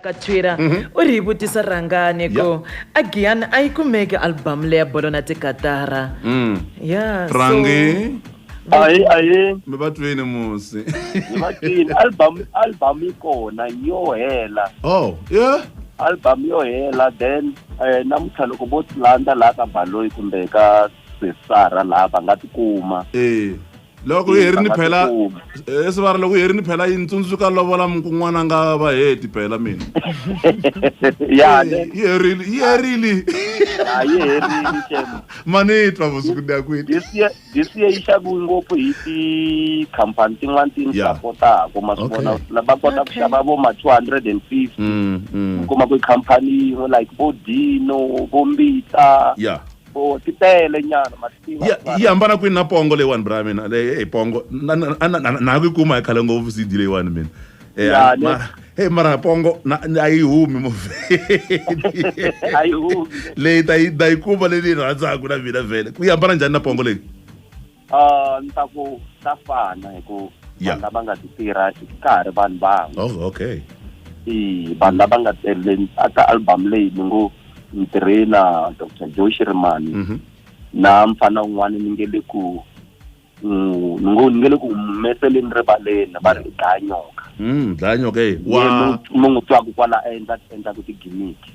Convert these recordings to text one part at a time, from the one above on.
ka twitter mhm. u ri hi vutisa rhangani ku a giyani a yi kumeki albamu leya bolo na tikatara mm. ya rangi ayi ayi mi va twini musi mi va twini album album yi kona yo hela oh yeah album yo hela then eh namuntlha loko vo landa laha ka baloyi kumbe ka sesara laha va nga tikuma eh loko hi herini phela esivara eh, loko hi herini phela yi ni tsundzuka lovola mukun'wana nga va heti phela mina yi herile yi herile manitwa vusiku ni ya kwini this year yi xaviwe ngopfu hi tikhampani tin'wana ti ni sapotaka ma swi vona va kota ku xava vo ma two hundred and fifty mm, mm. kuma ku khampani yin'we like vo dino vo mbita Oh, ti tele nyana ma tiva ya yi hambana kwini na pongo leyiwani bra mina leyi hey, pongo na- na- na- na- na ha ku yi kuma hi khale ngopfu cd leyiwani mina Eh, Ya, a- le- mara- hey mara pongo na- na- a yi humi mavhedi a yi humi leyi ta yi ta yi kuma leyi ni yi rhandzaka na mina vhele ku yi hambana njhani na pongo leyi Uh, ni ta ku ta fana hi ku vanhu lava nga ti tirha ka ha ri vanhu van'we oh, okay i vanhu lava nga tirheni aka album leyi ni ngo ni tirhe na dr joe shirimani mhm. na mfana un'wana ni nge le ku mm, ni ngo ni nge le ku humeseleni rivaleni va ri dlaya nyoka mm, dlaya nyoka e wa mu n'wi twaku kwala a endla endla ku tigimiki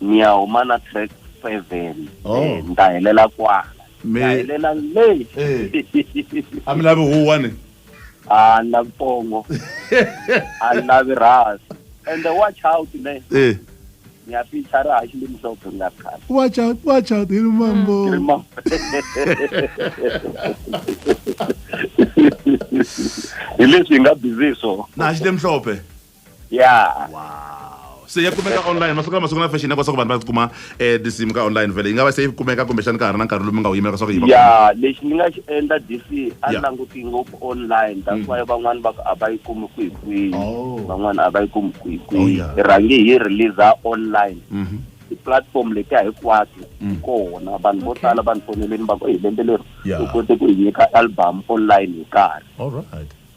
ni ya huma na track seven Oh. Eh, ni ta helela kwala Mi- ni ta helela le Eh. a mi lavi huwa ni a ni lavi pongo a ni lavi rhasi and the watch out ne Eh. ni ya picha ra haxi limhlophe ni nga ri khale watch out watch out hi ri mambo Ni ri ma- hi leswi hi nga busy hi swona na xi lemhlophe ya wow se ya kumeka online masiku lama sungula fashion ya leswaku vanhu va kuma um tinsimu ka online vele yi nga va se yi kumeka kumbexani ka ha ri na nkarhi lowu mi nga wu yimela leswaku yi ya lexi ni nga xi endla dc a ni languti ngopfu online that's mm. why van'wani va ku a va yi kumi kwihi kwihi oh. van'wani a va yi kumi kwihi oh, kwihi hi rhange hi releasa online mm-hmm. ti-platform letiya hinkwato mm. kona vanhu vo tala vanhu foneleni va ku hi lembe leri u kote ku hi nyika album online hi nkarhi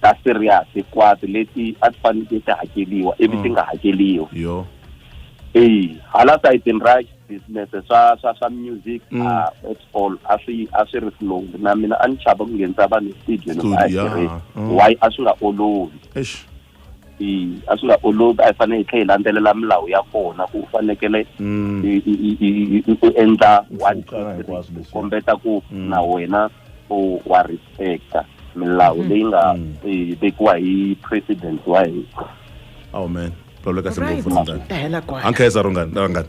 ta serious hinkwato leti a ti faneleke ti hakeriwa ivi ti mm. nga hakeriwi yo eyi hala sayitini ra business swa swa swa music mm. ah, at all a swi a swi ri flow na mina a ni chava ku nghenisa vanhu studio loko a yi tirhisa mm. why a swi nga olovi a swi nga olovi a hi fanele hi tlhela hi landzelela milawu ya kona ku u fanekele mm. u endla one two kombeta ku mm. na wena u wa respecta milawu mm. leyi nga vekiwa hi president wa hina amen loleka singopfu mntana ankheza rungani rangani